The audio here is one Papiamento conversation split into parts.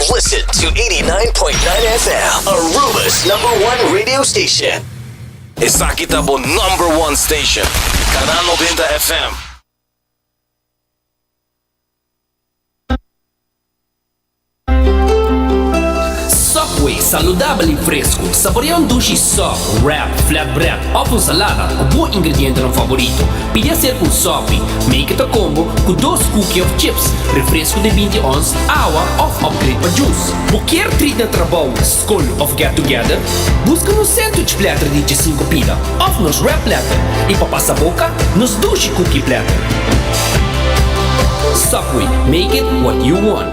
Listen to 89.9 FM, Aruba's number one radio station. Esaki ta bo number one station, Canal Noventa FM. Subway, saludabel i fresku. Saborea un dushi sòk, wrap, flatbread òf un salada ku bo ingredientenan favorito. Pidi ser ku un sòfi, make ta combo, ku dos kuki òf chips, refresku di binti ons, awa òf opgreid pa jus. Bo kier trit na trabou, skol òf get together? Buska nos sandwich platter di djesinku pida òf nos wrap platter i pa pasa boka, nos dushi kuki platter. Subway, make it what you want.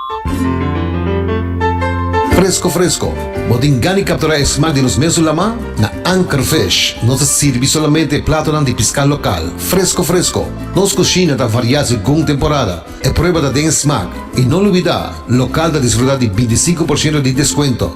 Fresco fresco! Bo tin gani captura e smaak di nos mesun lama? Na Anchor Fish nos ta sirbi solamente e platonan di pisca local, fresco fresco! Nos cushina ta varia segun temporada. E prueba ta den e smaak. Y no lubida, local ta disfruta di binti sinku por shento di descuento.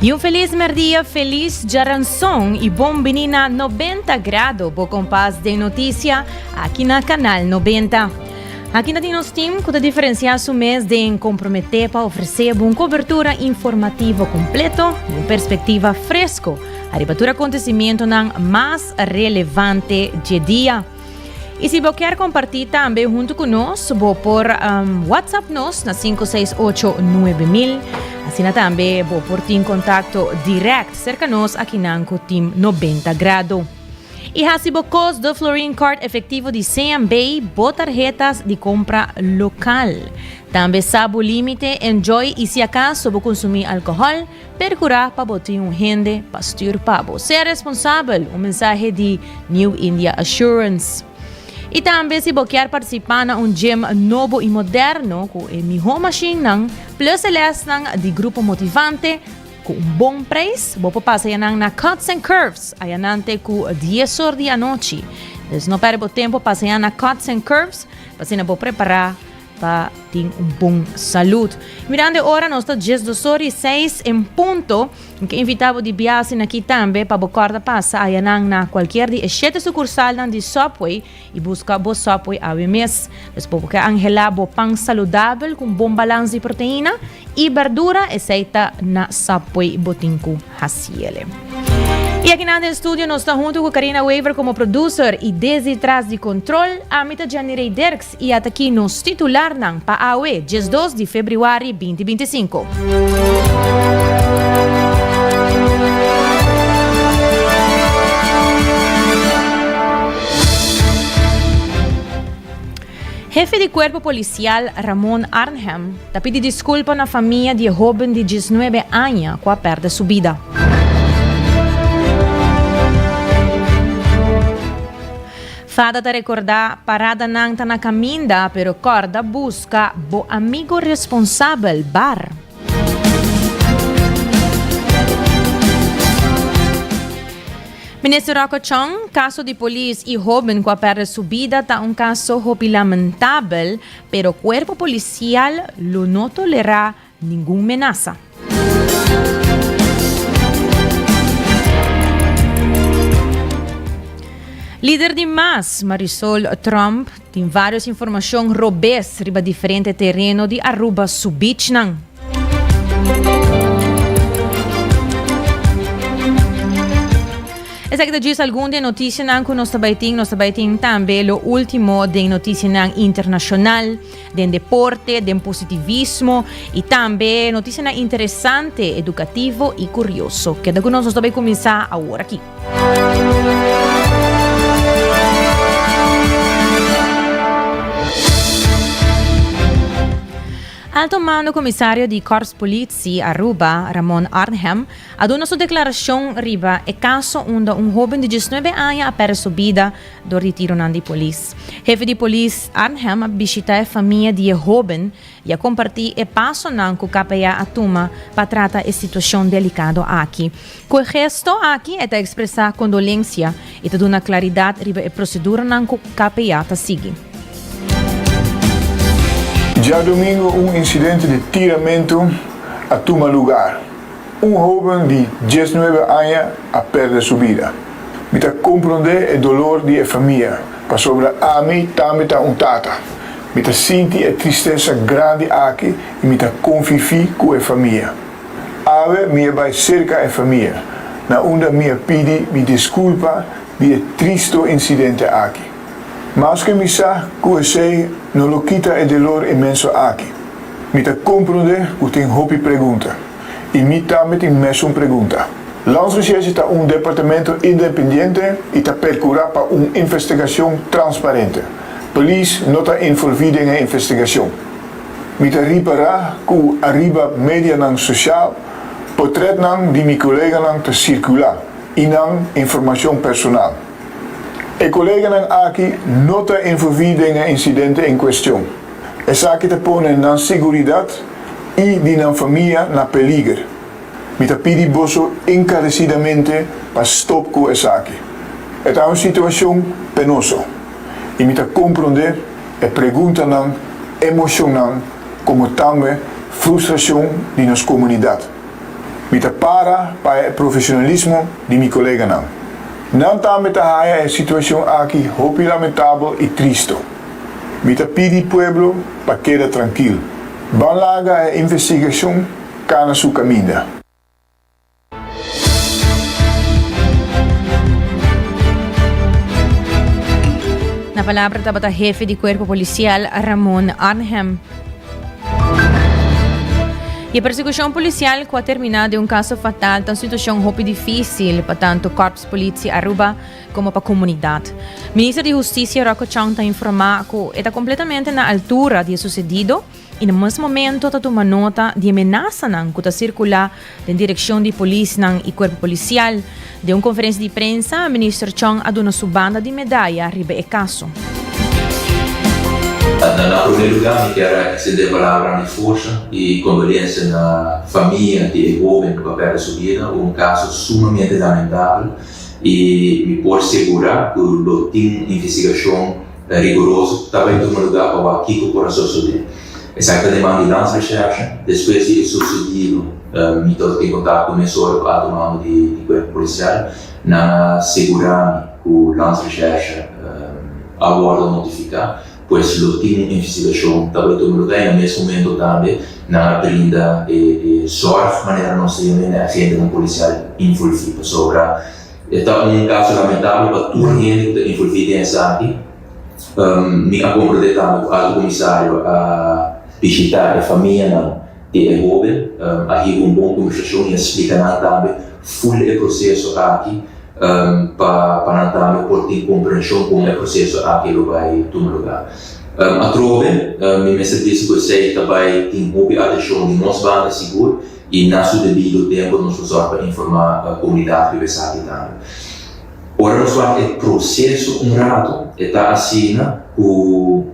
Di un felis merdia, felis djaranson i bon bini na Nobenta Grado, bo kompas den notisia aki na Kanal Nobenta. Aki ta tin nos team ku ta diferensiá su mes den komprometé pa ofresé bo un kobertura informativo kompleto i un perspektiva fresko ariba tur akontesimentonan mas relevante dje dia. Y si bo kier comparti tambe hunto cu nos, bo por um, WhatsApp nos na 5689000. Asina tambe bo por tin contacto direct cerca nos aki nan cu Team 90 Grado. Y hasi bo cos de Florin Card efectivo di CMB, bo tarjetas di compra local. Tambe sa bo límite, enjoy y si acaso bo consumi alcohol, Percurá pa bo tin un hende pa stuur pa bo. Sea responsabel, un mensahe di New India Assurance. I tambe si bo kier participá na un gym nobo i moderno cu e mihó mashinnan, plus e lesnan di grupo motivante cu un bon prijs, bo por pasa ya nan na Cuts and Curves ayanante cu dies or di anochi. Dus no perde bo tempo, pasa ya na Cuts and Curves p'asina bo prepará ta tin un bon salud. Mirando e ora, nos ta djes dosor y seis en punto. Mi ta invita bo di biasi na ki tambe pa bo corda pasa ayanan na cualkier di e shete sucursalnan di Subway y busca bo Subway awe mes. Pues bo ke angela bo pan saludabel cu un bon balans di proteina y berdura, esey ta na Subway bo tin cu haciele. Y akinan den studio nos ta hunto cu Karina Wever como producer y desi tras di control, ami ta Jenny Rey Dirks. I ata ki nos titularnan pa awe, diesdos di febrüari binti binti sinku. Hefe di Kuerpo Polisial Ramon Arnhem ta pidi diskulpa na famia di e hoben di diesnuebe aña ku a pèrdè su bida. Fada ta rekordá, Paradanan ta na kaminda, pero kòrda buska bo amigo responsabel, bar. Minister Rocco Chong, Kaso di polis i hóben ku a pèrdè su bida ta un kaso hopi lamentabel, pero kuerpo polisial lo no tolerá ningun menasa. Lider di mas, Marisol Trump, tin varios informacion robes riba diferente tereno di Aruba su beachnan. Esaki ta djis algun den noticianan cu nos ta bay tin. Nos ta bay tin tambe lo ultimo den noticianan internacional. den deporte, den positivismo y tambe noticianan interesante, educativo y curioso. Keda cu nos, nos ta bay cuminsa awor aki. Alto Mando Comisario di Corps Politie Aruba, Ramon Arnhem, a duna su declaracion riba e caso unda un hoben di diesnuebe aña a perde su bida dor di tironan di polis. Hefe di polis Arnhem a bishita e famia di e hóben i a kompartí e pasonan ku KPA a tuma pa trata e situashon delikado aki. Ku e gesto aki e ta ekspresá kondolensia i ta duna klaridat riba e proseduranan ku KPA ta sigui. Djadomingo un insidente di tiramentu a tuma lugar Un hóben di dies nuebe aña a pèrdè su bida. Mi ta komprondé e dolor di e famia, pasobra ami tambe ta un tata. Mi ta sinti e tristesa grandi aki i mi ta konfifí ku e famia. Awe mi a bai serka e famia, na unda mi a pidi mi diskulpa di e tristu insidente aki. Maske mi sa ku esei no lo kita e delor inmenso aki, mi ta komprondé ku tin hopi pregunta. I mi tambe tin mesun pregunta. Landsrecherche ta un departamento independiente i ta percura pa un investigacion transparente. Polis no ta involvi den e investigacion. Mi ta ripara cu ariba medianan social potretnan di mi coleganan ta circula i nan informacion personal. E coleganan aki no ta involvi den e incidente en cuestion. Esaki ta pone nan siguridad i di nan famia na peliger. Mi ta pidi boso enkaresidamente pa stop ku esaki. E ta un situashon penoso, i mi ta komprondé e preguntanan, emoshonnan komo tambe frustrashon di nos komunidat. Mi ta para pa e profeshonalismo di mi koleganan. Nan tambe ta haya e situashon aki hopi lamentabel i tristu. Mi ta pidi pueblo pa keda trankil. Ban laga e investigashon kana su kaminda. Na palabra tabata hefe di cuerpo policial Ramon Arnhem. Y e persecucion policial cu a termina den un caso fatal ta un situacion hopi dificil pa tanto Corps Politie Aruba, como pa comunidad. Minister di Husticia Rocco Chong ta informa cu e ta completamente na altura di e sucedido y na mes momento ta tuma nota di e menasanan cu ta circula den direccion di polisnan y cuerpo policial. Den un conferencia di prensa, Minister Chong a duna su banda di medaya riba e caso. Na na prome luga mi kier extende palabra di forsa y condolencia na famia di e hoben cu a perde su bida, un caso sumamente lamentable. i mi por segura ku lo tin un investigashon riguroso ku ta bai tuma lugá pa wak kiko por a sosodé. Esaki ta demanda di lans recherche. Despues di e sosodido mi tabata den kontakto ku mes ora ku alto mando di kuerpo polisial. Nan a segura mi ku lans recherche a wòrdu notifiká. Pues lo tin un investigashon ta bai tuma luga i na mes momento tambe nan a brinda e sòrg manera nos ta yam'é n'e agentenan polisial involví. Pasobra e ta un kaso lamentabel pa tur hende ku ta involví den esaki. Mi a komprondé tambe ku Alto Komisario a bishitá e famianan. E hoben a heba un bon kombersashon i a splika nan tambe full di e proseso aki pa nan tambe por tin komprenshon kon e proseso aki lo bai tuma lugá. Atrobe, mi mester bisa ku esei ta bai tin hopi atenshon di nos banda sigur i na su debido tempu nos lo sòru pa informá komunidat riba esaki tambe. Ora nos wak e proseso un ratu e ta asina ku.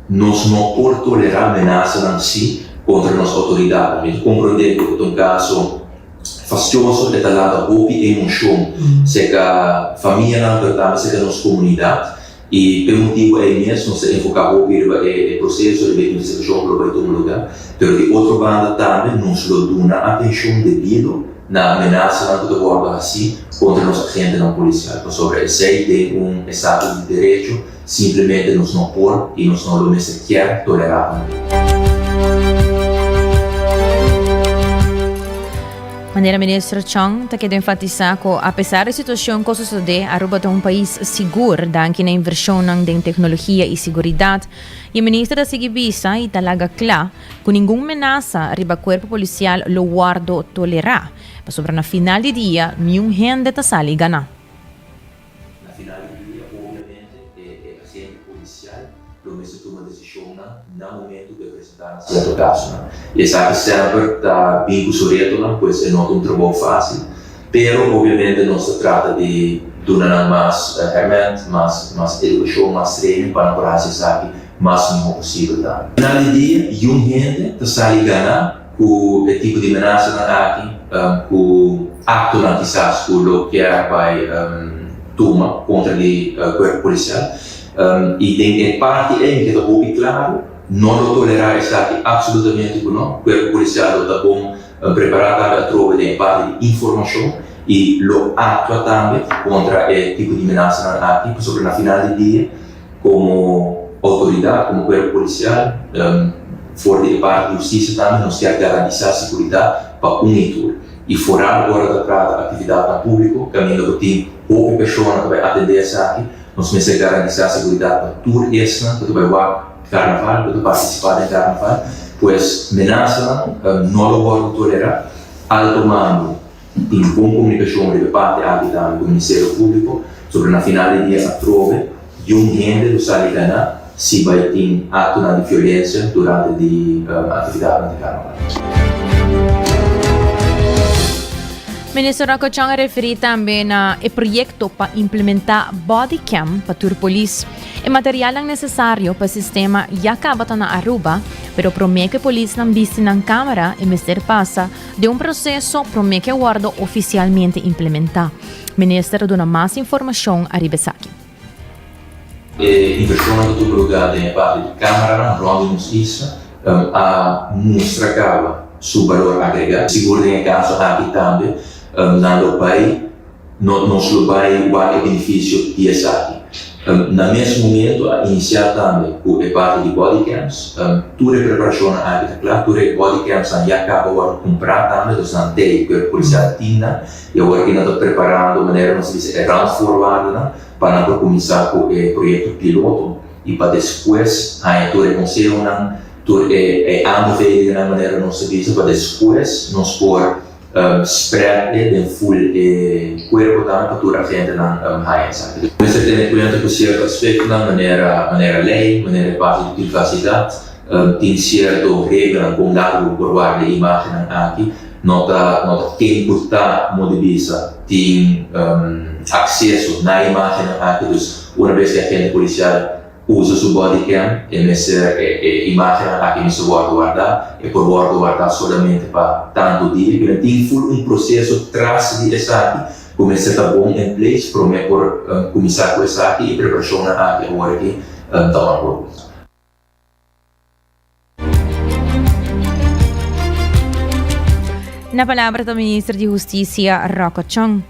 Nos no por tolerá menasanan sí contra nos autoridadnan. Mi ta comprendé cu e ta un caso fastioso, e ta lanta hopi emocion cerca famianan, pero tambe cerca nos comunidad. Y pa e motibo ey mes nos ta enfoca hopi riba e proceso, riba e investigacion cu lo bay tuma lugar. Pero di otro banda tambe nos lo duna atencion debido na menasanan cu ta wordo hací contra nos agentenan policial, pasobra esey den un estado di derecho. Simplemente nos no por i nos no lo mester kier tolerá tambe. Manera Minister Chong ta keda enfatisá ku apesar di situashon ku a sosodé, Aruba ta un pais sigur danki na invershonnan den teknologia i siguridat, i e Minister ta sigui bisa i ta laga kla ku ningun menasa riba kuerpo polisial lo wòrdu tolerá, pasobra na final di dia niun hende ta sali ganá. Na final di dia, obiamente e agente polisial lo mester tuma desishonnan na momentu ku e presentá nan sierto kasonan. I esaki semper ta bin ku su retonan, pues e no ta un trabou fásil. Pero obiamente nos ta trata di duna nan mas hèrmènt, mas mas edukashon, mas trening pa nan por hasi esaki mas mihó posibel tambe. Na final di dia, yum hende ta sali ganá. Ku e tipo di menasa nan aki, ku aktonan kisas ku lo kier bai tuma kontra di kuerpo polisial, i den e parti ei mi ke ta hopi klaru, no lo tolerá esaki apsolutamente ku no, kuerpo polisial lo ta bon prepará tambe atrobe den e parti di informashon i lo aktua tambe kontra e tipo di menasa nan aki, pasobra na final di dia, Komo outoridat, komo kuerpo polisial, for di e parti di hustisia tambe nos kier garantisá seguridat pa un i tur. I foral ora ta trata aktividatnan públiko, kaminda ku tin hopi persona ku ta bai atendé esaki, nos mester garantisá seguridat pa tur esnan ku ta bai wak karnaval, ku ta partisipá den karnaval. Pues menasanan no lo wòrdu tolerá. Alto mando. Tin tin bon komunikashon riba parti aki tambe ku Ministerio Públiko sobra na final di dia atrobe yum hende lo sali ganá si bai tin aktonan di fiolensia durante di aktividatnan di Karnaval. Minister Rocachoñ a referí tambe na e proyekto pa implementá body cam pa tur polis. E materialnan nesesario pa e sistema ya kabata na Aruba, pero promé ku e polisnan bisti nan kámara e mester pasa den un proseso promé ke wòrdu ofisialmente implementá. Minister a duna mas informashon ariba esaki. E invershonnan ta tupa lugá den e parti di Kámaranan rònt di nos isla ta a mustra kaba su balor agregá. Sigur den e kaso aki tambe nan lo bai No, nos lo bai wak e benefisio di esaki. Na mes momento a inisiá tambe ku e parti di body cams. Tur e preparashonnan aki ta kla, tur e body camsnan ya kaba wòrdu kumprá tambe, nos nan tei ku e polisial di tinda i awor aki nan ta preparando manera nos ta bisa e randvoorwaardennan pa nan por kuminsá ku e proyekto piloto i pa despues haña tur e konsehonan, tur e aanbevelingnan manera nos ta bisa pa despues nos por. Spread e den full e cuerponan pa tur agentenan haya esaki. Mester a tene cuenta cu cierto aspectonan manera manera ley, manera e parti di privacidad, tin cierto reglanan con largo por warda e imagennan aki. No ta no ta ke importa como di bisa tin acceso na e imagennan aki. Dus una bes cu e agente policial Usa su body cam, e mester e imagennan aki mester wòrdu wardá, e por wòrdu wardá solamente pa tantu dia, i nan tin ful un proseso tras di esaki ku mester ta bon en place promé por kuminsá ku esaki, e preparashonnan aki awor aki ta ora por kuminsá. Na palabra ta minister di Justicia Rocco Chong.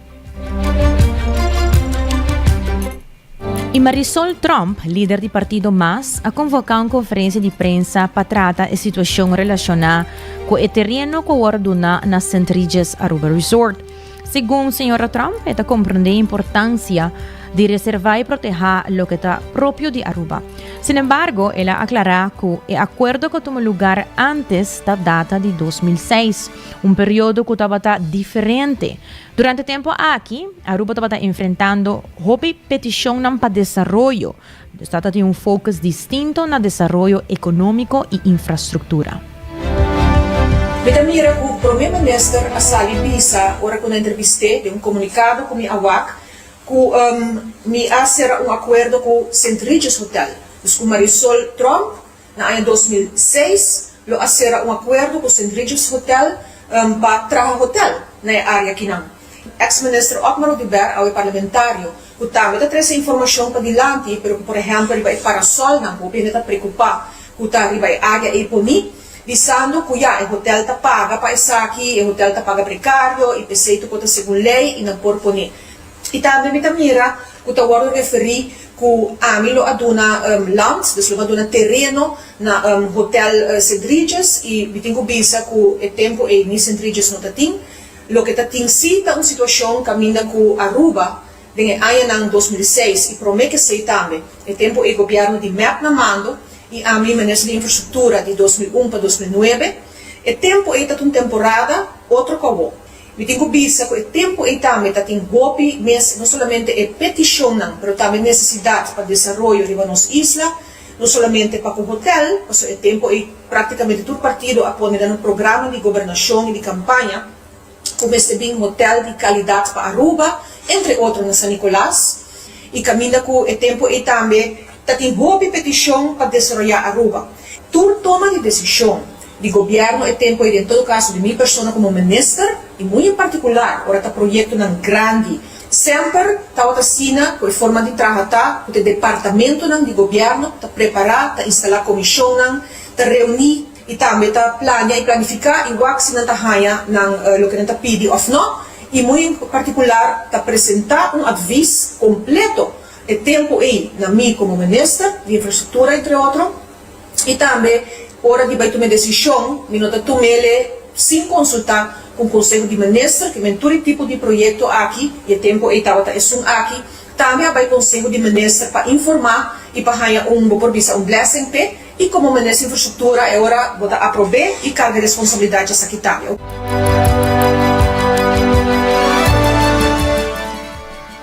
Y Marisol Tromp, lider di partido MAS, a convoca un conferencia di prensa pa trata e situacion relaciona cu e tereno cu a worde duna na St. Regis Aruba Resort. Segun señora Trump, e ta komprendé importansia di reservá i protehá loke ta propio di Aruba. Sinembargo, el a aklará ku e akuerdo ku a tuma lugar ántes ta data di dos mil seis, un periodo ku tabata diferente. Durante tempu aki, Aruba tabata enfrentando hopi petishonnan pa desaroyo, Nos ta ta tin un focus distinto na desaroyo economico y infrastructura. Mi ta mira cu Prome Minister a sali bisa ora cu na entrevist'e den un comunicado cu mi a wak cu mi a cera un acuerdo cu St. Regis Hotel, dus cu Marisol Tromp Na aña dos mil seis lo a sera un akuerdo ku Sint Rigids Hotel pa traha hotel na e área kinan. Eks minister Otmar Oduber, awe parlamentario, ku tambe ta trese informashon padilanti pero ku por ehèmpel riba e parasolnan ku hopi hende ta prekupá ku ta riba e área ei poní bisando ku ya e hotel ta paga pa esaki, e hotel ta paga prekario i p'esei tu por ta segun lei i nan por poní. I tambe mi ta mira ku ta wòrdu referí ku ami lo a duna land, dus lo mi a duna tereno na Hotel Cedriges i mi tin ku bisa ku e tempu ei ni Cendriges no ta tin. Loke ta tin si ta un situashon kaminda ku Aruba den e añanan dos mil i seis i promé ke sei tambe. E tempu ei gobièrnu di mep na mando i ami menes di infrastruktura di dos mil un pa dos mil nuebe. E tempu ei ta ta un temporada otro ku awor. Mi tin ku bisa ku e tempu ei tambe ta tin hopi mes, no solamente e petishonnan, pero tambe nesesidat pa desaroyo riba nos isla, no solamente pa ku hotèl, pasobra e tempu ei praktikamente tur partido a pone den nan programa di gobernashon i di kampaña ku mester bin hotèl di kalidat pa Aruba, entre otro na San Nikolas. I kaminda ku e tempu ei tambe ta tin hopi petishon pa desaroyá Aruba. Tur toma di desishon. di gobièrnu e tempu ei den todo kaso di mi persona komo minister i muy en partikular ora ta proyektonan grandi semper tabata asina ku e forma di traha ta ku ta e departamentunan di gobièrnu ta prepará ta instalá komishonnan ta reuní i tambe ta plania i planifiká i wak si nan ta haña nan loke nan ta pidi òf nò i muy en partikular ta presentá un atvis kompleto e tempu ei na mi komo minister di infrastruktura entre otro. I tambe ora di bai tum'é desishon mi no ta tum'ele sin konsultá ku un konseho di minister ku men tur e tipo di proyekto aki, i e tempu ei tabata esun aki, tambe a bai konseho di minister pa informá i pa haña un bo por bisa un blessing p'e i komo minister infrastruktura e ora bo ta aprob'é i karga responsabilidat dja sa kitá.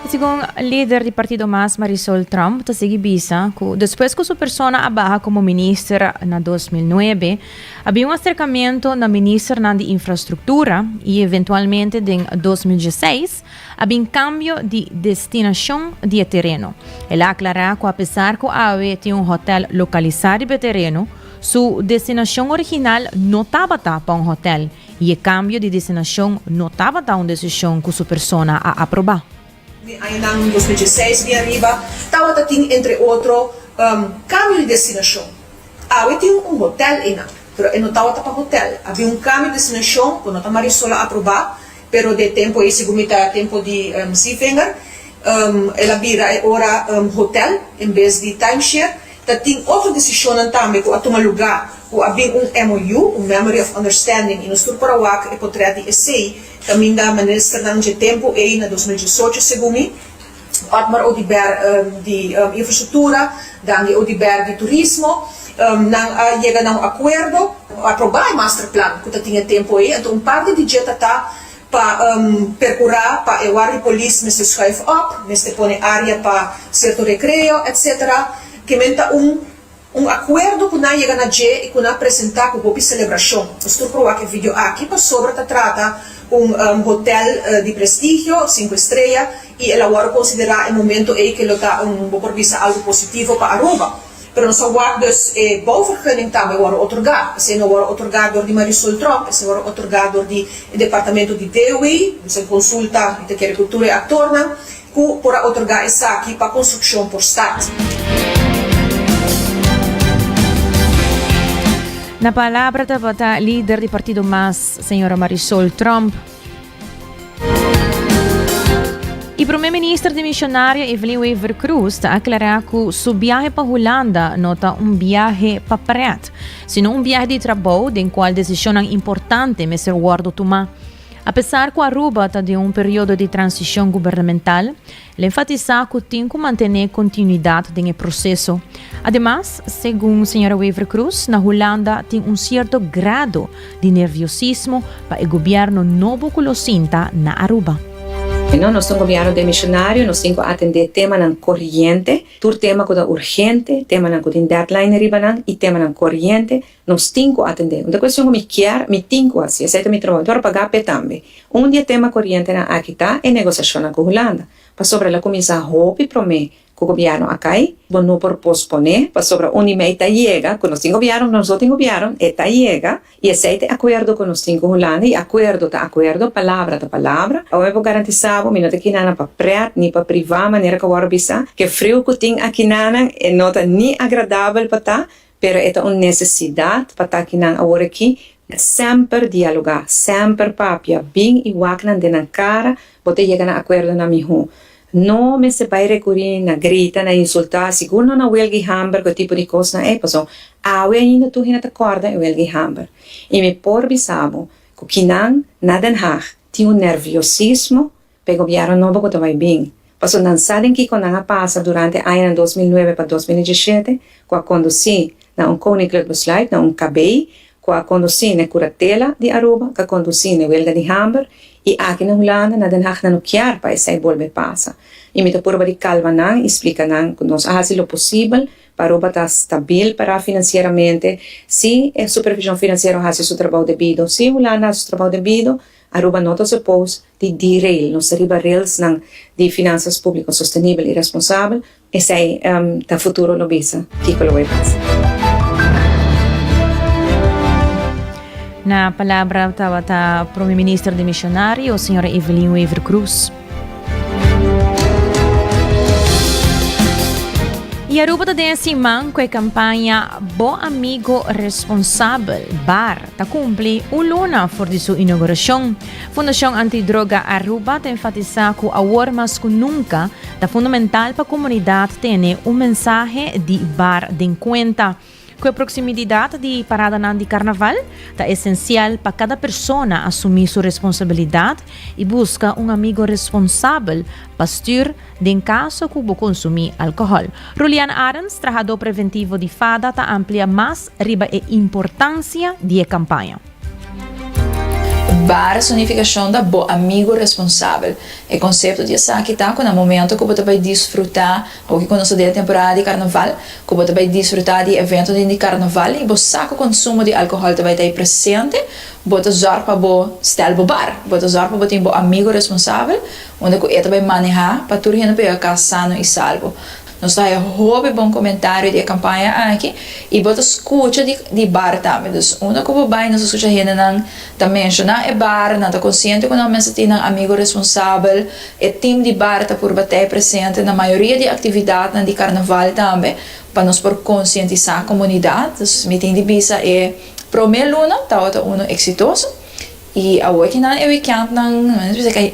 Segun lider di partido mas Marisol Trump ta sigui bisa cu despues cu su persona a baha como minister na dos mil nuebe a bin un acercamento na ministernan di infrastructura y eventualmente den dos mil diesseis a bin cambio di destinacion di e tereno. El a aclara cu apesar cu awe tin un hotel localisa riba e tereno, su destinacion original no tabata pa un hotel y e cambio di destinacion no tabata un decision cu su persona a aproba. Den añanan di dos mil dieseis bia riba tabata tin entre otro cambio di destinacion. Awe tin un hotel eynan, pero e no tabata pa hotel. A bin un cambio di destinacion cu no ta Marisol a aproba, pero den e tempo ey segun mi ta tempo di Zeevinger, el a bira e ora hotel en bes di timeshare. Ta tin otro desishonnan tambe ku a tuma lugá, ku a bin un MOU, un Memory of Understanding, i nos tur por a wak e potrèt di esei, kaminda minister nan dje tempu ei na dos mil diesocho, segun mi, Otmar Oduber di Infrastruktura, Dandy Oduber di Turismo, nan a yega na un akuerdo, aprobá e masterplan ku ta tin e tempu ei, anto un parti di dje ta ta. Pa percura pa e wardio polis mester schuif op, mester pone area pa cierto recreo, etc. Kemen ta un un acuerdo cu nan yega na dje y cu nan presenta cu hopi celebracion. Nos tur proba cu e video aki pasobra ta trata un hotel di prestigio, cinco estrella, y el a worde considera e momento ey que lo ta un, bo por bisa, algo positivo pa Aruba. pero nos a wak dus e bouvergunning tambe a wòrdu otorgá. Esei no a wòrdu otorgá dor di Marisol Tromp, esei wòrdu otorgá dor di e departamento di DEWI, nos a konsulta, mi ta kere ku tur e aktornan, ku por a otorgá esaki pa konstrukshon por stat. Na palabra tabata lider di partido mas, señora Marisol Tromp. E prome minister di Misionaria Evelyn Wever Cruz ta aklará ku su biahe pa Hulanda no ta un biahe pa prèt, sino un biahe di trabou den kual desishonnan importante mester wòrdu tumá. Apesar ku Aruba ta den un periodo di transishon gubernamental, El enfatisá ku tin ku mantené kontinuidat den e proseso. Ademas, segun señora Wever-Croes, na Hulanda tin un sierto grado di nerviosismo pa e gobièrnu nobo ku lo sinta na Aruba. Bueno, nos ta un gobièrnu den mishionario, nos tin ku atendé temanan koriente, tur tema ku ta urgente, temanan ku tin deadline riba nan i temanan koriente, Nos tin cu atende. Un ta cuestion cu mi kier, mi tin cu haci. Esey ta mi trabou. Mi por paga p'e tambe. Un di e tema corientenan aki ta e negociacionnan cu Hulanda. Pasobra el a cuminsa hopi prome cu gobierno a cay, bo no por pospone, pasobra un di mi ey ta yega, cu nos tin gobierno, nos no tin gobierno, e ta yega, y esey ta e acuerdo cu nos tin cu Hulanda, y acuerdo ta acuerdo, palabra ta palabra. Awa mi por garantisa bo, mi no ta kina nan pa pret, ni pa priva, manera cu awor a bisa, cu e friu cu tin aki nanan, e no ta ni agradabel pa ta, pero e ta un nesesidat pa taki nan awor aki na semper dialogá, semper papia bin i wak nan den nan kara, bo ta yega na akuerdonan mihó. No mester bai rekurí na grita, na insultá, sigur no na welga i hamber ku e tipo di kosnan ei, pasobra awe ainda tur hende ta kòrda e welga i hamber. I mi por bisa bo ku kinan na Den Haag tin un nerviosismo, pa e gobièrnu nobo ku ta bai bin, pasobra nan sa den kiko nan a pasa durante e añanan dos mil nuebe pa dos mil i disiete ku a kondusí na un koninklik besluit, na un kabei ku a kondusí n'e kuratela di Aruba, k'a kondusí n'e welga di hamber i aki na Hulanda, na Den Haag nan no kier pa esei bolbe pasa i mi ta purba di kalma nan i splika nan ku nos a hasi lo posibel pa Aruba ta stabil pará finansieramente si e supervishon finansiero a hasi su trabou debido, si Hulanda a hasi su trabou debido. Aruba no ta supos di derail, nos ta riba railsnan di finansas públiko sostenibel i responsabel, esei ta futuro lo bisa kiko lo bai pasa. Na palabra tabata Prome Minister dimisionario, señora Evelyn Wever-Croes. Y Aruba ta den e siman cu e campaña Bo Amigo Responsabel, bar, ta cumpli un luna for di su inauguracion. Fundacion Antidroga Aruba ta enfatisa cu awor mas cu nunca ta fundamental pa comunidad tene un mensahe di bar den cuenta. Ku e proksimididat di paradanan di karnaval, ta esensial pa kada persona asumí su responsabilidat i buska un amigu responsabel pa stür den kaso ku bo konsumí alkohòl. Rulian Arends, trahadó preventivo di FADA, ta amplia mas riba e importansia di e kampaña. Bar su nificacion ta bo amigo responsabel. E concepto di esaki ta cu na momento cu bo ta bay disfruta, hoki cu nos ta den e temporada di Carnaval, cu bo ta bay disfruta di e eventonan di Carnaval y bo sa cu consumo di alcohol ta bay ta ey presente, bo ta zorg pa bo stel bo bar. Bo ta zorg pa bo tin bo amigo responsabel, unda cu e ta bay maneha pa tur hende por yega cas sano y salbo. Nos ta haña hopi bon komentario di e kampaña aki i bo ta skucha di di bar tambe. Dus unda ku bo bai nos ta skucha hendenan ta menshoná e bar, nan ta konsiente ku nan mester tin nan amigu responsabel. E tim di bar ta purba t'e presente na mayoria di aktividatnan di karnaval tambe pa nos por konsientisá komunidat. Dus mi tin di bisa e promé luna tabata unu eksitoso. Y awe ki nan e weekendnan,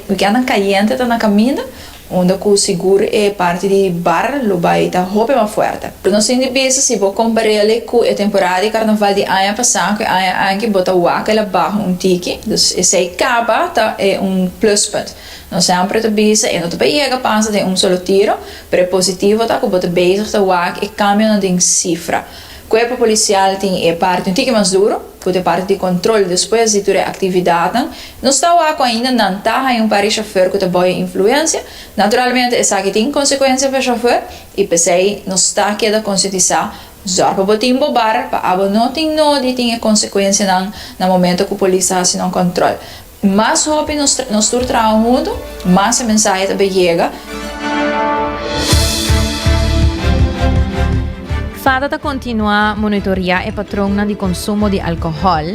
weekendnan cayente ta na caminda, unda cu sigur e parti di bar lo bay ta hopi mas fuerte. Pero nos tin di bisa si bo comparele cu e temporada di carnaval di aña pasa cu e aña aki bo ta wak el abaho un tiki, dus esey caba ta e un pluspunt. Nos semper ta bisa e no ta pa yega pasa den un solo tiro, pero e positivo ta cu bo ta bezig ta wak e cambionan den cifra. Cuerpo Policial tin e parti un tiki mas duro, cu ta e parti di control despues di tur e actividadnan. Nos ta wak cu ainda nan ta haya un par di chauffeur cu ta boya influencia. Naturalmente esaki tin consecuencia pa e chauffeur y p'esey nos ta keda conscientisa, Zorg pa bo tin bo bar pa abo no tin nodi tin e consecuencianan na momento cu Polis ta haci nan control. Mas hopi nos nos tur traha huntu, mas e mensahe ta bai yega. Fada ta kontinuá monitoriá e patronnan di konsumo di alkohòl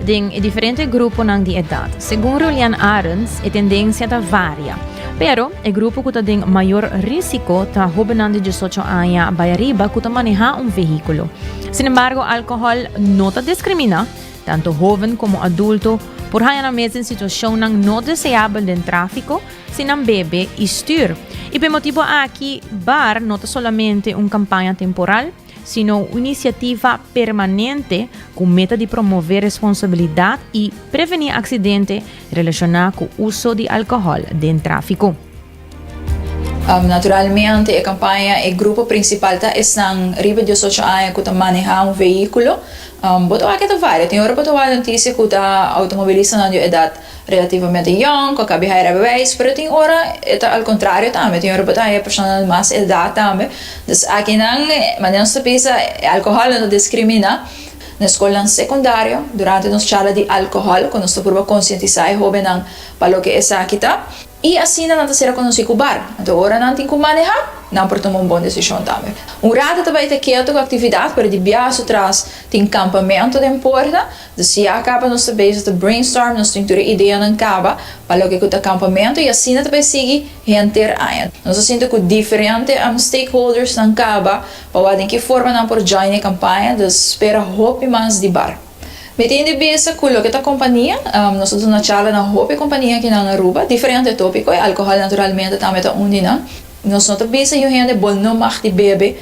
den e diferente gruponan di edat. Segun Rulian Arends, e tendensia ta varia. Pero, e grupo ku ta den mayor rísiko ta hóbennan di diesocho aña bai ariba ku ta manehá un vehíkulo. Sin embargo, alkohòl no ta diskrimina. Tanto hoven komo adulto por haña nan mes den situashonnan no deseabel den tráfiko si nan bebe i stür. I p'e motibu aki bar no ta solamente un kampaña temporal, sino un inisiativa permanente ku meta di promové responsabilidat i prevení aksidente relashoná ku uso di alkohòl den tráfiko. Naturalmente e kampaña e grupo prinsipal ta esnan riba diosocho aña ku ta manehá un veíkulo. Bo ta wak ke ta varia. Tin ora bo ta wak notisia ku ta outomobilistanan di un edat relativamente yòn, ku a kabe haña rèbebeis, pero tin ora e ta al kontrario tambe. Tin ora bo ta haña personanan di mas edat tambe. Dus akinan, manera nos ta bisa, e alkohòl no ta diskrimina. Na e skolnan sekundario, durante nos charla di alkohòl, ku nos ta pruba konsientisá e hóbennan pa loke esaki ta. I asina nan ta ser rekonosí ku bar. Anto ora nan tin ku manehá, nan por tuma un bon desishon tambe. Un rata ta bai ta ketu ku aktividat, pero di biaha su tras tin kampamentu den Porta. Anto si ya kaba nos ta beisha ta brainstorm, nos struktura ideanan kaba pa loke ku ta kampamentu i asina ta bai sigui henter aña. Nos a sinti ku diferente stakeholdersnan kaba pa wak den ki forma nan por join e kampaña, dus spera hopi mas di bar. Mi tin di bisa cu loke ta compania, nos a duna charla na hopi compania akinan Aruba, diferente topico, y alcohol naturalmente tambe ta un di nan. Nos no ta bisa yu hende bo no mag di bebe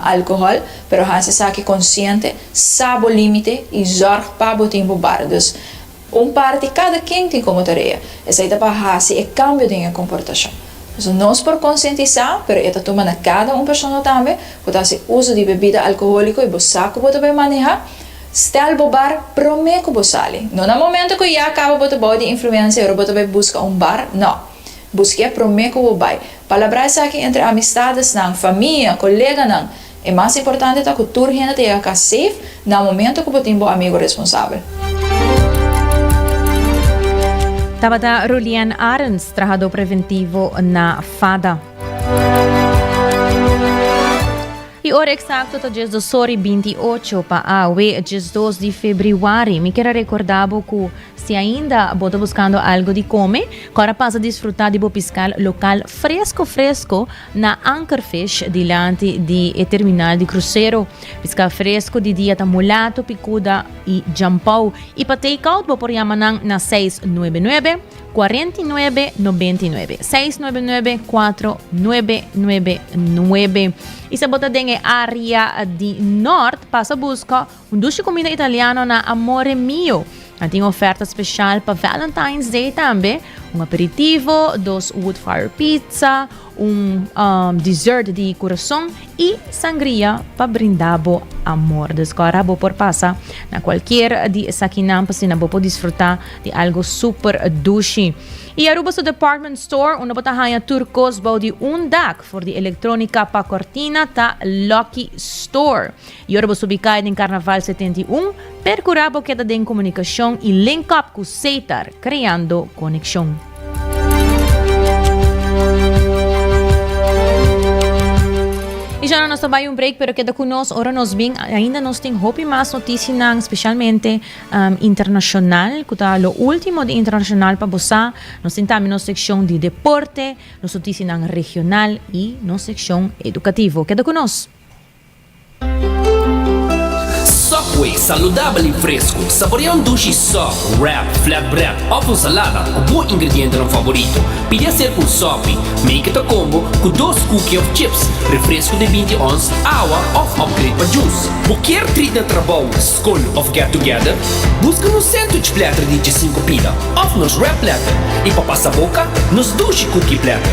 alcohol, pero hasi esaki consciente, sa bo limite y zorg pa bo tin bo bar. Dus. Un parti kada ken tin komo tarea esei ta pa hasi e kambio den e komportashon. So nos por konsientisá, pero e ta tuma na kada un persona tambe, ku ta hasi uso di bebida alkohóliko i bo sa ku bo ta bai manehá, stèl bo bar promé ku bo sali, no na momentu ku ya kaba bo ta bou di influensia i ora bo ta bai buska un bar, nò. Buskia promé ku bo bai. Palabrá esaki entre amistadesnan, famia, koleganan. E mas importante ta ku tur hende ta yega kas sef na momento ku bo tin bo amigo responsabel. Tabata Rolianne Arends, trahadó preventivo na FADA. E ora eksakto ta dies dos ora i binti ocho pa awe, diesdos di febriuari. Mi ker a rekordá bo ku. Si ainda bo ta buscando algo di come, cora pasa disfruta di bo piscal local fresco fresco na Ankerfish dilanti di e terminal di crucero. Piscal fresco di dia ta mulato, picuda y jampou y pa take-out bo por yama nan na seis nuebe nuebe, cuarenta y nuebe, noventa y nuebe, seis nuebe nuebe, cuatro nuebe nuebe nuebe. Y si bo ta den e area di Nort pasa busca. Un dushi kumida italiano na Amore Mio. Nan tin oferta spesial pa Valentine's Day tambe, un aperitivo, dos wood-fire pizza, un um dessert di kurason i sangria pa brinda bo amor. Des ku ora bo por pasa na kualkier di esakinan pa asina bo por disfruta di algo super dushi. I Aruba su department store unda bo ta haña tur kos bou di un dak for di elektronika pa kortina ta Lucky Store. I ora bo subi kai den Carnaval setenta i un, percura bo keda den comunicacion y link up cu Ceitar, creando coneccion. I djana nos ta bai un break, pero keda cu nos ora nos bin, ainda nos tin hopi mas noticianan, specialmente internacional, cu ta lo ultimo di internacional pa bo sa. Nos tin tambe nos seccion di deporte, nos noticianan regional y nos seccion educativo. Keda cu nos. Subway, saludabel i fresku. Saborea un dushi sòp, wrap, flatbread òf un salada ku bo ingredientenan favorito. Pidi haser ku un sòpi, make it a combo, ku dos kuki òf chips, refresku di binti ons, awa òf upgrade pa jus. Bo kier treat na trabou, skol òf get together? Buska nos sandwich platter di djesinku pida òf nos wrap platter. I pa pasa boka, nos dushi kuki platter.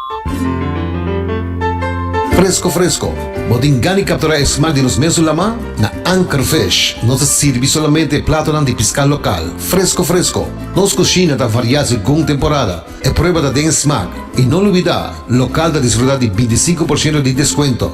Fresco fresco! Bo tin gani captura e smaak di nos mesun lama? Na Anchor Fish nos ta sirbi solamente e platonan di pisca local, fresco fresco! Nos cushina ta varia segun temporada, e prueba ta den e smaak. Y no lubida, local ta disfruta di binti sinku por shento di descuento.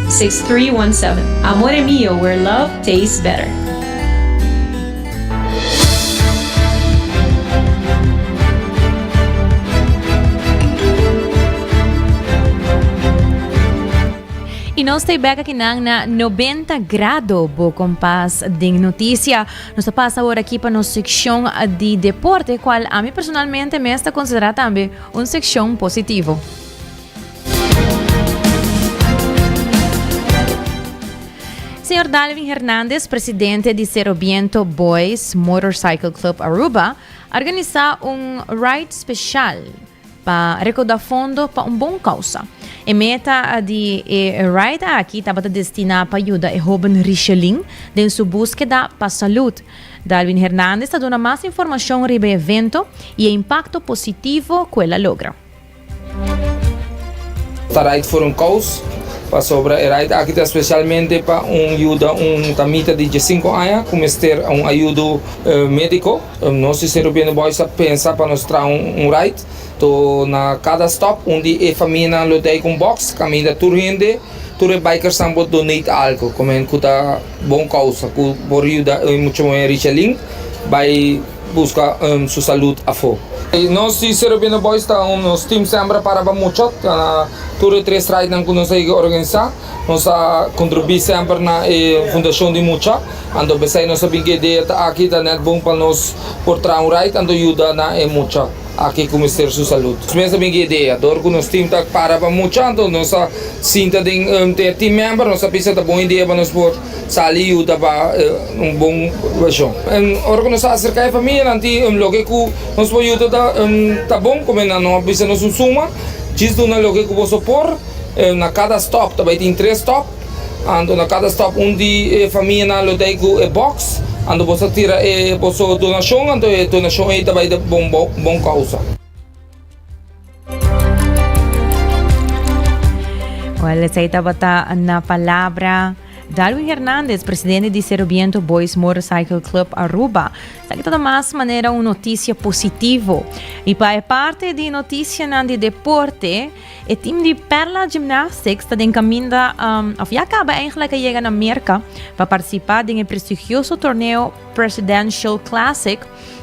6317 Amore mio where love tastes better. Y nos ta e bek aki nan na Noventa Grado, bo kompas den noticia. Nos ta pasa awor aki pa nos seccion di deporte, cual ami personalmente mes ta considera tambe un seccion positivo. Señor Dalvin Hernandez, presidente di Serobiento Boys Motorcycle Club Aruba, organisa un ride special pa recauda fondo pa un bon causa. E meta di e ride aki tabata destina pa yuda e hoben Richelin den su buskeda pa salud. Dalvin Hernandez ta duna mas informacion riba e evento y e impacto positivo cu el a logra. Ta right for un kous, pasobra e right aki ta spesialmente pa un yuda un tamita di diesinco aña ku mester un ayudo médiko. Nos di Sero Bende Boys a pensa pa nos traha un right, to na kada stòp un di e famianan lo dei ku un bòks kaminda tur hende, tur e bikersnan por donate algu, ku ta bon kousa ku por yuda e muchamuhé Richelin bai. Busca su salud afo. Nos di Cerro Viejo Boys ta un nos team sembra para pa muchot na tur e tres strijd nan cu nos a yega organisa. Nos a contribuí semper na e fundacion di muchot. Anto p'esey nos a bin cu e idea ta aki ta net bon pa nos por traha un rijt anto yuda na e muchot aki cu mester su salud. Nos mes a bin cu e idea dor cu nos team ta para pa muchot anto nos a sinta den e team member nos a bisa ta bon idea pa nos por. Sali yuta pa un bon vershon. Ora ku nos ta aserká e famianan di un loke ku nos por yuta ta bon kome nan no a bisa nos un suma, djis duna loke ku boso por, na kada stòp ta bai tin tres stòp, anto na kada stòp un di e famianan lo dai ku e bòks, anto boso a tira e boso donashon, anto e donashon ei ta bai ta bon kousa. Well, esei tabata na palabra Darwin Hernandez, presidente di Serobiento Boys Motorcycle Club Aruba. Sa kita ta mas manera un noticia positivo. I pa e parte di noticia nan di deporte, e team di Perla Gymnastics ta den caminda, um, of ya acaba eigenlijk a llega na Merca pa participa den e prestigioso torneo Presidential Classic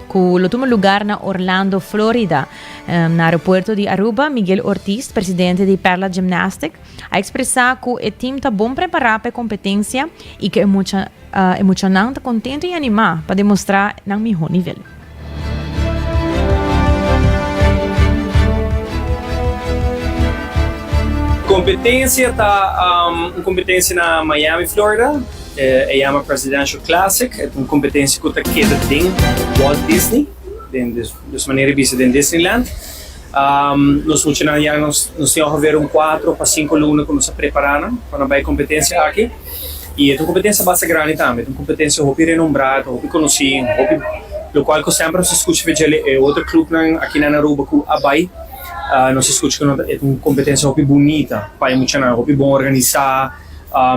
cu lo tuma lugar na Orlando, Florida. Na aeropuerto di Aruba, Miguel Ortiz, presidente di Perla Gymnastic, a expresa cu e team ta bon prepara pa e competencia y cu e mucha, e muchanan ta contento y anima pa demostra nan miho nivel. Competencia ta un competencia na Miami, Florida. E yama Presidential Classic. E ta un kompetensia ku ta keda den Walt Disney, den dus manera di bisa den Disneyland. Nos muchanan ya nos tin ongever un kuatro pa sinku luna ku nos a prepará nan pa nan bai e kompetensia aki. I e ta un kompetensia basta grandi tambe. E ta un kompetensia hopi renombrá, e ta hopi konosí, hopi lokual ku semper nos a skucha pa djele e otro klupnan aki na Aruba ku a bai, nos a skucha ku e ta un kompetensia hopi bunita pa e muchanan, hopi bon organisá.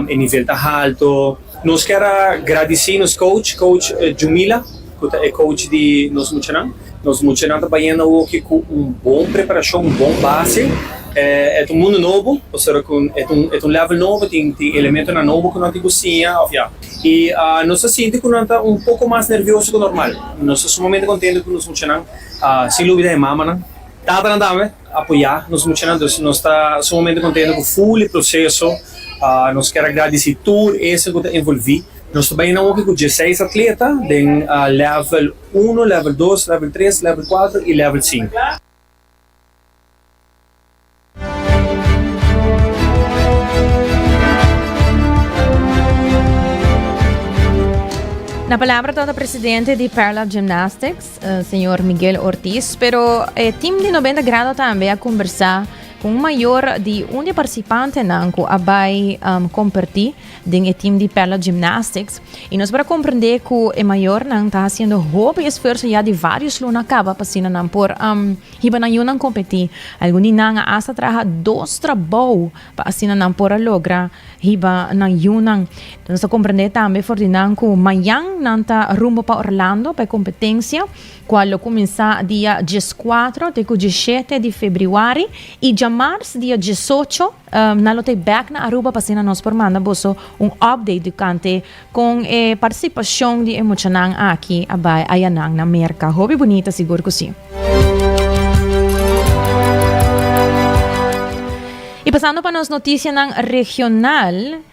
E nivel ta halto. Nos kier a gradisí nos coach, coach Jumila, cu ta e coach di nos muchanan. Nos muchanan ta bayendo awoke cu un bon preparacion, un bon base. E ta un mundu nobo, pasobra cu e ta un level nobo, tin elementonan nobo cu nos tin cu siña of ya. I nos ta sinti cu nan ta un poco mas nervioso cu normal. Nos ta sumamente contento cu nos muchanan, sin lubida e mamanan, tatanan tambe. apoyá nos muchanan. Entonces nos ta sumamente contento cu full e proceso. Nos kier a gradeci tur esnan cu ta envolvi. Nos ta bay na hockey cu diesseis atleta den level uno, level dos, level tres, level cuatro y level cinco. Na palabra tata presidente di Perla Gymnastics, Señor Miguel Ortiz, pero e team di Nobenta Grado tambe a kombersá ku un mayor di un di partisipantenan ku a bai kompertí den e team di Perla Gymnastics i nos por a komprendé ku e mayornan ta hasiendo hopi esfuerso ya di vários luna kaba pa asina nan por hiba nan yunan kompetí. Algun di nan a asta traha dos trabou. pa asina nan por a logra hiba nan yunan. Nos a comprende tambe for di nan cu mayan nan ta rumbo pa Orlando pa e competencia, cual lo cuminsa dia diescuatro te cu diesiete di febriuari y djamars dia diesocho nan lo ta e back na Aruba pa asina nos por manda boso un update tocante Con e participacion di e muchanan aki a bay ayanan na Merca. Hopi bunita sigur cu si. Y pasando pa nos noticianan regional.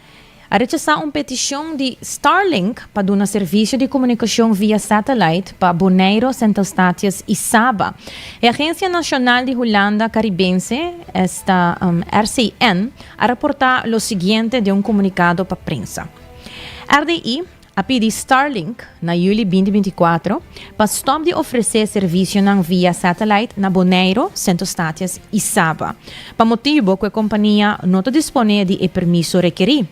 A rechasa un peticion di Starlink pa duna servicio di comunicacion via satellite pa Boneiro, Sint Eustatius y Saba. E agencia nacional di Hulanda Caribense, esta RCN, a raporta lo siguiente den un comunicado pa prensa. RDI a pidi Starlink na juli binti binti kuater pa stòp di ofresé servisionan via satellite na Boneiru, Sint-Eustatius i Saba, pa motibu ku e kompania no ta disponé di e permiso rekerí.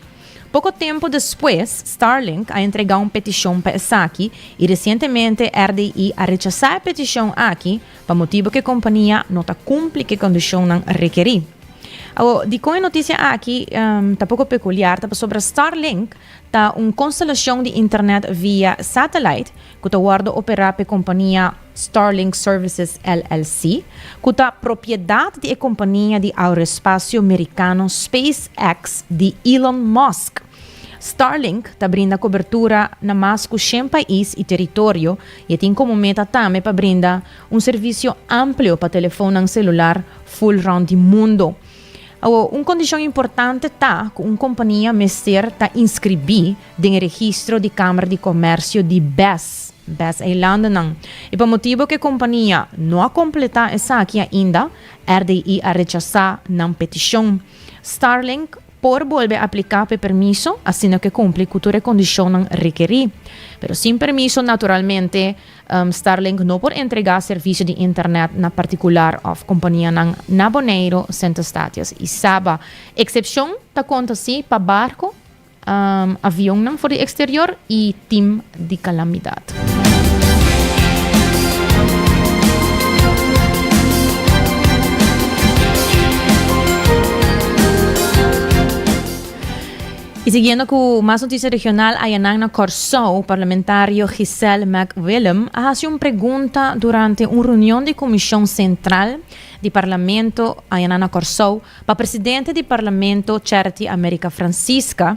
Poko tempu despues, Starlink a entregá un petishon pa esaki i resientemente RDI a rechasá e petishon aki, Pa motibu ku e kompania no ta kumpli ku e kondishonnan rekerí. Awor, dikon e notisia aki ta poko pekuliar ta pasobra Starlink ta un konstelashon di internet via satelait ku ta wòrdu operá pa e kompania Starlink Services LLC, ku ta propiedat di e kompania di aeroespasio merikano SpaceX di Elon Musk. Starlink ta brinda kobertura na mas ku shen pais i teritorio i e tin komo meta tambe pa brinda un servisio amplio pa telefonnan selular ful rònt di mundu. Awo, un kondishon importante ta ku un kompania mester ta inskribí den e registro di Kamer di Komèrsio di Bes, Bes Eilandennan, i pa motibu ku e kompania no a kompletá esaki ainda, RDI a rechasá nan petishon. Starlink. por bolbe apliká p'e permiso asina ku e kumpli ku tur e kondishonnan rekerí. Pero sin permiso naturalmente Starlink no por entregá servisio di internèt na partikular òf kompanianan na Boneiru, Sint Eustatius i Saba. Eksepshon ta konta si pa barku, avionnan for di eksterior i tim di calamidad. Y siguiendo cu mas noticia regional ayanan na Corsou, Parlamentario Giselle Macwillem a haci un pregunta durante un reunion di Comision Central di Parlamento ayanan na Corsou, Pa presidente di Parlamento Charity America Francisca,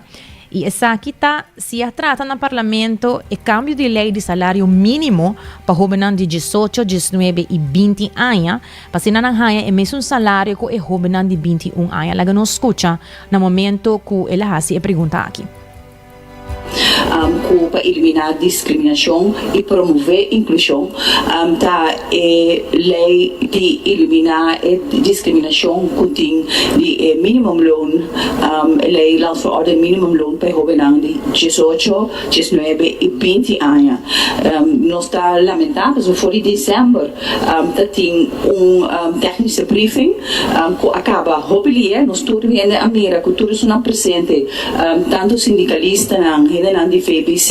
i esaki ta si a trata na Parlamento e kambio di lei di salario minimo pa hobennan di diesocho, diesnuebe i binti aña, pa asina nan haña e mesun salario ku e hobennan di binti un aña. Laga nos skucha na momento ku el a hasi e pregunta aki. cu pa elimina discriminacion y promove inclusion ta e ley di elimina e discriminacion cu tin di e minimum loan, e ley Landverordening Minimum Loan pa e hobennan di diesocho, diesnuebe y binti aña. Nos ta lamenta pasobra for di December Ta tin un tecnische briefing cu a caba hopi dia. Nos tur hende a mira cu tur esunnan presente, tanto sindicalistanan, hendenan di VBC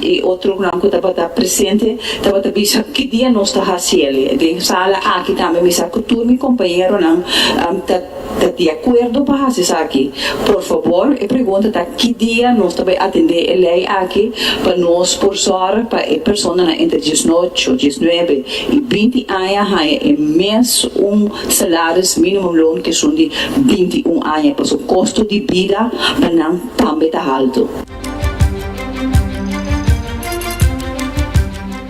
y otronan cu tabata presente, tabata bisa ki dia nos ta haciel. Den sala aki tambe mi sa cu tur mi compañeronan ta. ta di akuerdo pa hasi esaki, por fabor e pregunta ta ki dia nos ta bai atendé e lei aki pa nos por sòru pa e personanan entre diesnocho, diesnuebe i binti aña haña e mes un salaris minimumloon ku esun di binti un aña pasobra kosto di bida pa nan tambe ta haltu.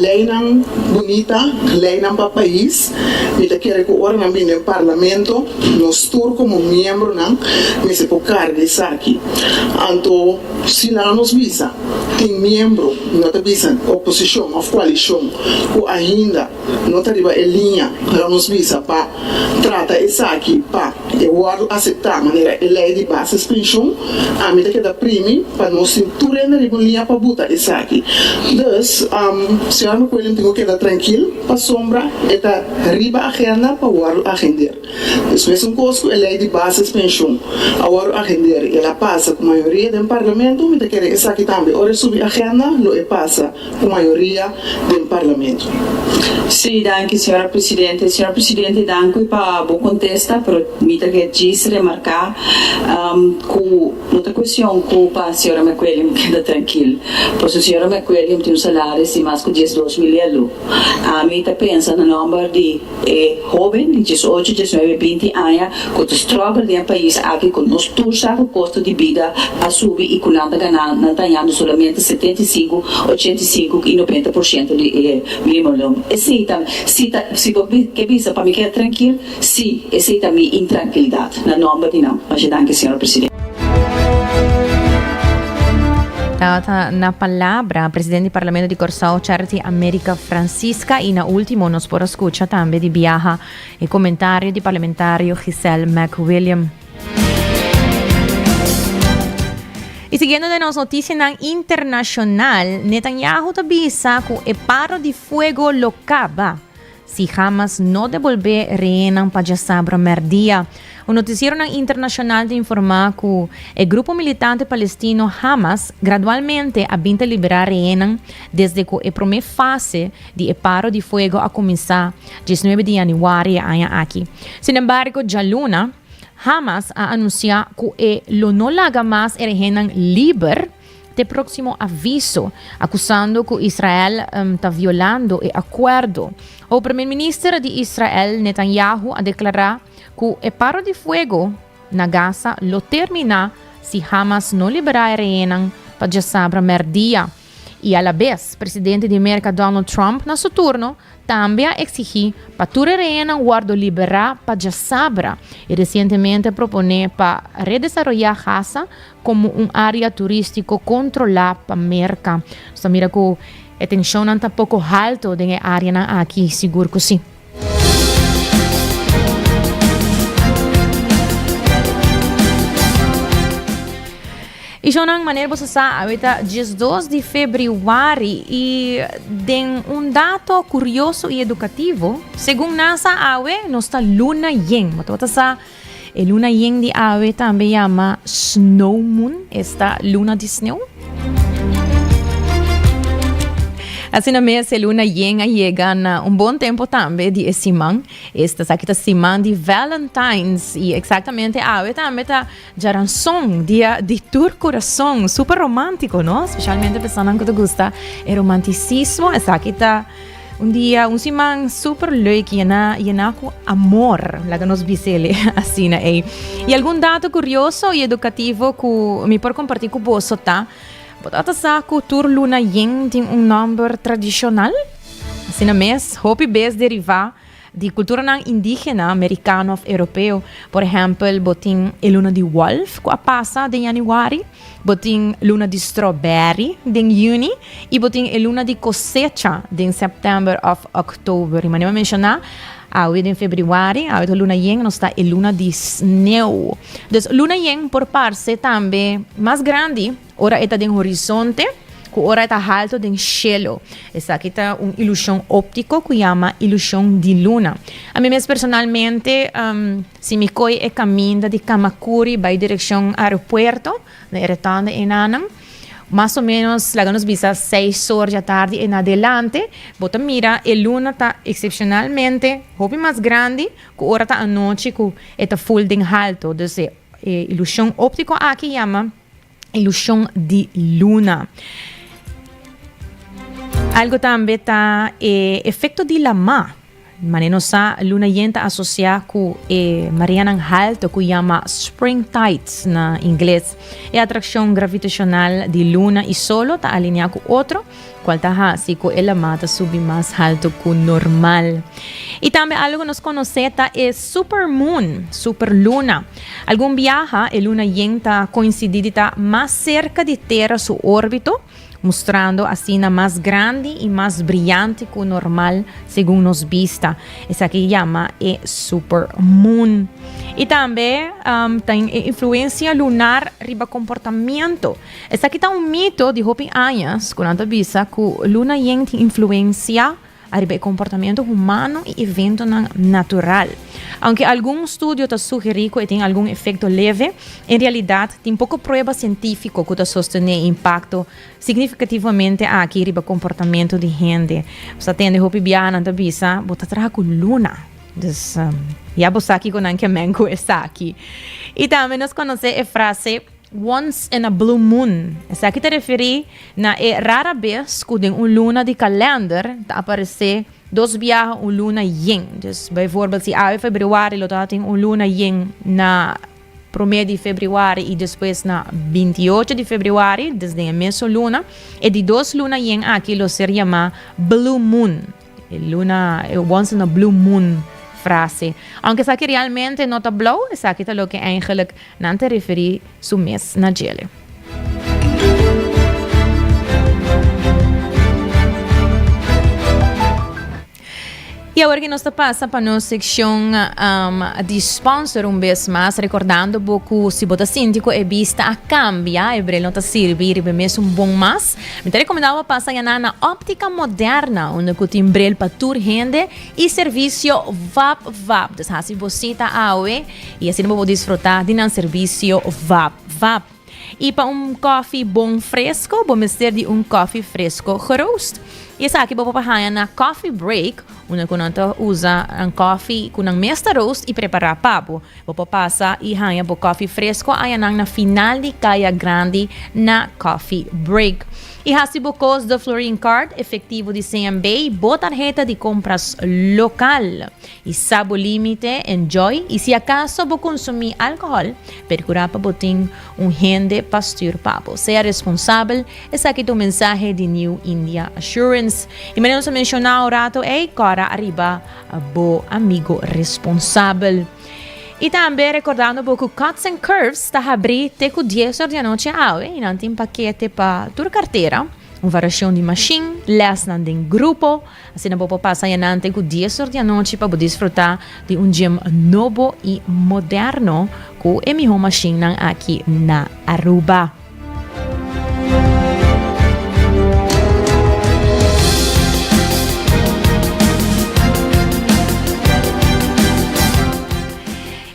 Leinan bunita, leinan pa pais. Mi ta kere ku ora nan bin den parlamento, nos tur komo miembronan mester por karga esaki. Anto si laga nos bisa, tin miembro, no ta bisa oposishon òf koalishon, ku ainda No ta riba e liña, pero nos bisa pa trata esaki pa e wòrdu aseptá manera e lei di bases penshun. Ami ta keda primi pa nos tin tur hende riba un liña pa buta esaki. Dus, Señora McQuillan tin ku keda trankil pasobra e ta riba agenda pa wòrdu agendeer. Dus mesun kos ku e lei di bases penshun a wòrdu agendeer i el a pasa ku mayoria den Parlamento, mi ta kere esaki tambe ora e subi agenda lo e pasa. cu mayoria den Parlamento. Sí, danki Señora Presidente. Señor Presidente, danki pa bo contesta, pero mi ta ke djis remarca cu no ta cuestion cu pa Señora McWilliam keda trankil, pasobra Señora McWilliam tin un salaris di mas cu diesdos mil e alu. Ami ta pensa na nomber di. E hoben di diesocho, diesnuebe, binti aña cu ta struggle den e pais aki cu nos tur sa cu costo di bida a subi y cu nan ta gana, nan ta hañando solamente setenta y cinco, ochenta y cinco y noventa por ciento di e minimoloon. Esey ta mi, si ta, si bo ke bisa pa mi keda trankil, si, esey ta mi intranquilidad. Na nomber di nan. Masha danki, señor Presidente. Tabata na palabra presidente di Parlamento di Corsao, Charity America Francisca. Y na último nos por escucha tambe di biaha e comentario di parlamentario Giselle McWilliam. Y siguiendo den nos noticianan internacional, Netanyahu ta bisa cu e paro di fuego lo caba. Si Hamas no debolbé rehénan pa djasabra mèrdia. Un notisieronan internashonal ta informá ku e grupo militante palestino Hamas gradualmente a bin ta liberá rehénan desde ku e promé fase di e paro di fuego a kuminsá diesnuebe di yanüari e aña aki. Sinembargo, djaluna, Hamas a anunsiá ku e lo no laga mas e rehénan liber. te próximo aviso, acusando cu Israel ta violando e acuerdo. O Primer Minister di Israel, Netanyahu, a declara cu e paro di fuego na Gaza lo termina si Hamas no libera e rehenan pa djasabra merdia. Y a la bes, Presidente di Merca, Donald Trump, na su turno, tambe a exigi pa tur e rehenan wordo libera pa djasabra y recientemente propone pa redesaroya Gaza komo un área turístiko kontrolá pa Merka. Nos ta mira ku e tenshonnan ta poko halto den e áreanan aki? Sigur ku sí. I shownan, maner boso sa, awe ta diesdos di febrüari i den un dato kurioso i edukativo, segun nasa awe nos ta luna yen. Bo tabata sa? E luna yen di awe tambe yama snow moon esta luna di sneu. Asina mes e luna yen a yega na un bon tempo tambe di e siman. Esta saki ta siman di Valentine's y exactamente awe tambe ta Jaranson, dia di tur corazon. Super romantico, no? Specialmente personanan cu ta gusta e romanticismo, esaki ta Un dia, un siman super leuk, yená, yená ku amor, laga nos bisele asina ei. I algun dato kurioso i edukativo ku mi por kompartí ku boso ta, Bo tabata sa ku tur luna yen tin un nòmber tradishonal? Asina mes, hopi bes derivá Di kulturanan indígena, merikano òf europeo, por ehèmpel bo tin e luna di wòlf ku a pasa den yanüari, bo tin luna di stròbèri den yüni i bo tin e luna di kosecha den sèptèmber òf òktober. I manera mi a menshoná awe den febrüari, awe ta luna yen, nos ta e luna di sneu. Dus luna yen por parse tambe mas grandi. Ora e ta den horizonte, ku ora e ta halto den shelo. Esaki ta un ilushon óptiko ku yama ilushon di luna. Ami mes personalmente, um, si mi koi e kaminda di Kamakuri bai direkshon aeropuerto, na e retòn di Enanan, mas o menos, laga nos bisa, seis or dja tardi en adelante, bo ta mira e luna ta eksepshonalmente hopi mas grandi ku ora ta anochi ku e ta ful den halto. Dus e e ilushon óptiko aki yama ilushon di luna. Algo tambe ta e efekto di lama. Mane nos sa, luna yen ta asosia ku e mareanan halto ku yama spring tides na ingles. E atrakshon gravitashonal di luna i solo ta alineá ku otro. cual ta haci cu e lama ta subi mas halto cu normal. Y tambe algo cu nos conoce ta e supermoon, superluna. Algun biaha e luna yen ta coincidi di ta mas cerca di Tera su orbito, mostrando asina mas grandi y mas brillante cu normal segun nos bista. Esaki yama e supermoon. Y tambe ten e influencia lunar riba comportamento. Esaki ta un mito di hopi añas ku nan ta bisa ku luna yen tin influensia ariba e komportamentu humano i eventonan natural. Aunke algun studio ta sugerí ku e tin algun efekto leve, en realidat tin poko prueba sientífiko ku ta sostené e impakto signifikativamente aki riba komportamentu di hende. Bo sa tende hopi biaha nan ta bisa, Bo ta traha ku luna. Dus, ya bo sa kiko nan ke meng ku esaki. I tambe nos konosé e frase, Once in a blue moon, esaki ta referí na e rara bes ku den un luna di kalènder ta aparesé dos biaha un luna yen. Dus, baivoorbeeld si awe febrüari lo ta tin un luna yen na promé di febrüari i despues na binti i ocho di febrüari, dus den e mesun luna, e di dos luna yen aki lo ser yamá blue moon. E luna e wons na blue moon frase. Aunke esaki realmente no ta blauw, esaki ta loke eigenlijk nan ta referi su mes na djele. Y awor ki nos ta pasa pa nos seccion um, di sponsor un bes mas, recordando bo cu si bo ta sinti cu e bista a cambia, e bril no ta sirbi riba mes un bon mas, Mi ta rekomendá bo pa sañaná na Óptica Moderna, unda ku tin brel pa tur hende i servisio vap vap. Dus hasi bo sita awe i asina bo por disfrutá di nan servisio vap vap. I pa un kòfi bon fresko, bo mester di un kòfi fresko geroast. I esaki bo por haña na Coffee Break, unda ku nan ta usa nan kòfi ku nan mes ta roast i prepará pa bo. Bo por pasa y haña bo coffee fresco añanan na final di caya grandi na coffee break. Y haci bo cos de Florin Card, efectivo di CMB, bo tarheta di compras local. Y sa bo limite, enjoy y si acaso bo consumi alcohol, percura pa bo tin un hende pa stuur pa bo. Sea responsabel, esaki ta un mensahe di New India Assurance. Y mane nos a menciona un rato ey, cora ariba. bo amigo responsabel. Y tambe recordando bo cu Cuts and Curves ta habri te cu 10 or di anoche awe y nan tin paquete pa tur cartera, un variacion di machine, lesnan den grupo. Asina bo pa pasa yanante cu 10 or di anoche pa bo disfruta di un gym nobo y moderno cu e miho machine nan aki na Aruba.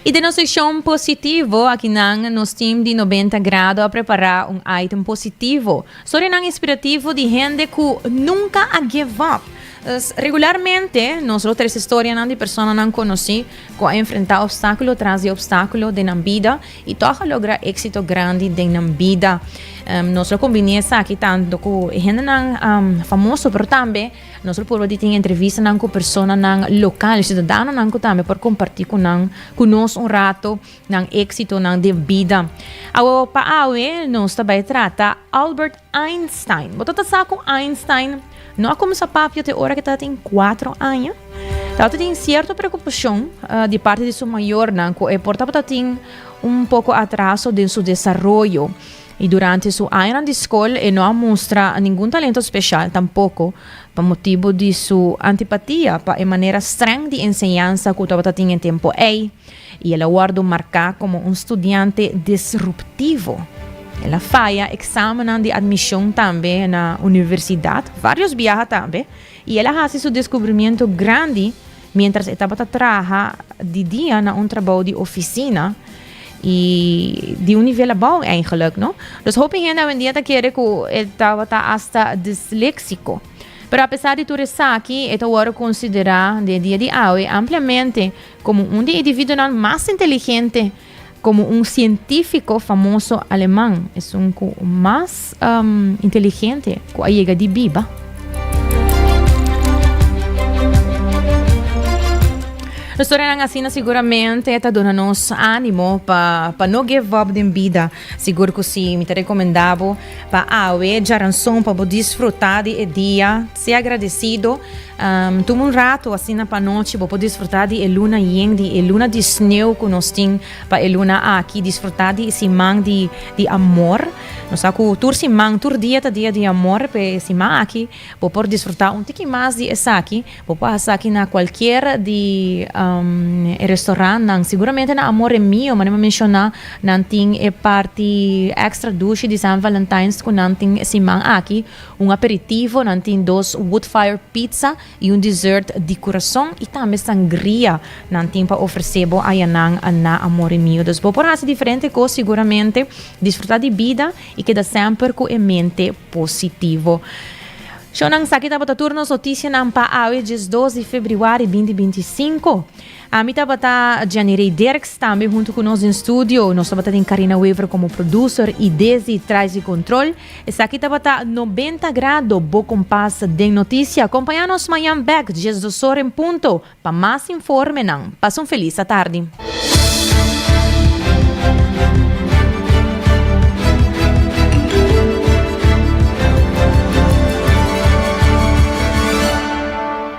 I den nos sekshon positivo, akinan nos team di Nobenta Grado a prepará un item positivo sobre nan inspirativo di hende ku nunka a give up. Pues, regularmente nos lo trese storianan di personanan konosí ku a enfrentá opstákulo tras di opstákulo den nan bida. I tòg a logra éksito grandi den nan bida. Nos lo kombiné esaki tantu ku e hendenan famoso, pero tambe nos lo purba di tin entrevistanan ku personanan lokal, siudadanonan ku tambe por kompartí ku nan, ku nos un rato nan éksitonan den bida. Awe pa awe nos ta bai trata Albert Einstein. Bo ta ta sa ku Einstein no a kuminsá papia te ora ku e tabatin kuatro aña. Tabata tin sierto preokupashon di parti di su mayornan ku e por tabatatin un poko atraso den su desaroyo. I durante su añanan di skol e no a mustra ningun talento speshal tampoko pa motibu di su antipatia pa e manera strèng di enseñansa ku tabata tin e tempu ei. y el a wordo marca como un studiante disruptivo. El a faya examenan di admision tambe na universidad, varios biaha tambe, y el a haci su descubrimiento grandi mientras e tabata traha di dia na un trabao di oficina y di un nivel abao eigenlijk, no. Dus hopi hende awendia ta kere cu e tabata hasta dislexico. Pero apesar di tur esaki, e ta wordo considera den e dia di awe ampliamente Komo un di individuonan mas inteligente, komo un sientífiko famoso aleman, esun ku mas inteligente ku a yega di biba. Storianan asina siguramente ta duna nos ánimo pa pa no give up den bida. Sigur ku si, mi ta rekomendá bo pa awe djaranson pa bo disfrutá di e dia. Sea agradecido. Tuma un rato asina pa anochi bo por disfruta di e luna yen, di e luna di sneu cu nos tin pa e luna aki. Disfruta di e siman di di amor. Nos sa cu tur siman, tur dia ta dia di amor. P'e siman aki bo por disfruta un tiki mas di esaki. Bo por haci esaki na cualkier di e restaurantnan. Seguramente na Amore Mio, manera mi a menciona, nan tin e party extra dushi di San Valentine's cu nan tin e siman aki. Un aperitivo, nan tin dos woodfire pizza y un dessert di curason y tambe sangria nan tin pa ofrece bo ayanan na Amore Mio. Dus bo por haci diferente cos seguramente, disfruta di bida y keda semper cu e mente positivo. Shownan, esaki tabata tur nos noticianan pa awe djesdos di febriuari binti binti i sinku. Ami tabata Janny Rey Dirks, tambe hunto cu nos den studio nos tabata den Carina Wever como producer y Desi Traisy Control. Esaki tabata Noventa Grado, bo compas den noticia. Compaña nos mañan bek dies dosor en punto pa mas informenan. Pasa un feliz atardi.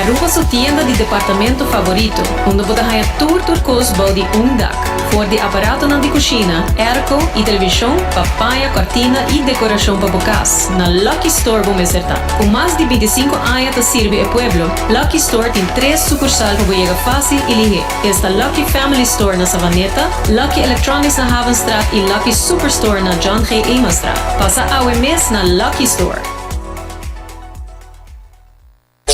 Aruba su tienda di departamento favorito, unda bo ta haña tur tur kos bou di un dak. For di aparatonan di kushina, airco i televishon, pa paña kòrtina i dekorashon pa bo kas, na Lucky Store bo mester ta. Ku mas di binti sinku aña ta sirbi e pueblo, Lucky Store tin tres sukursal pa bo yega fásil i lihé. Esta Lucky Family Store na Savaneta, Lucky Electronics na Havenstraat y Lucky Superstore na John G. Emanstraat. Pasa awe mes na Lucky Store.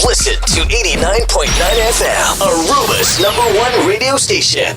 Listen to 89.9 FM, Aruba's number one radio station.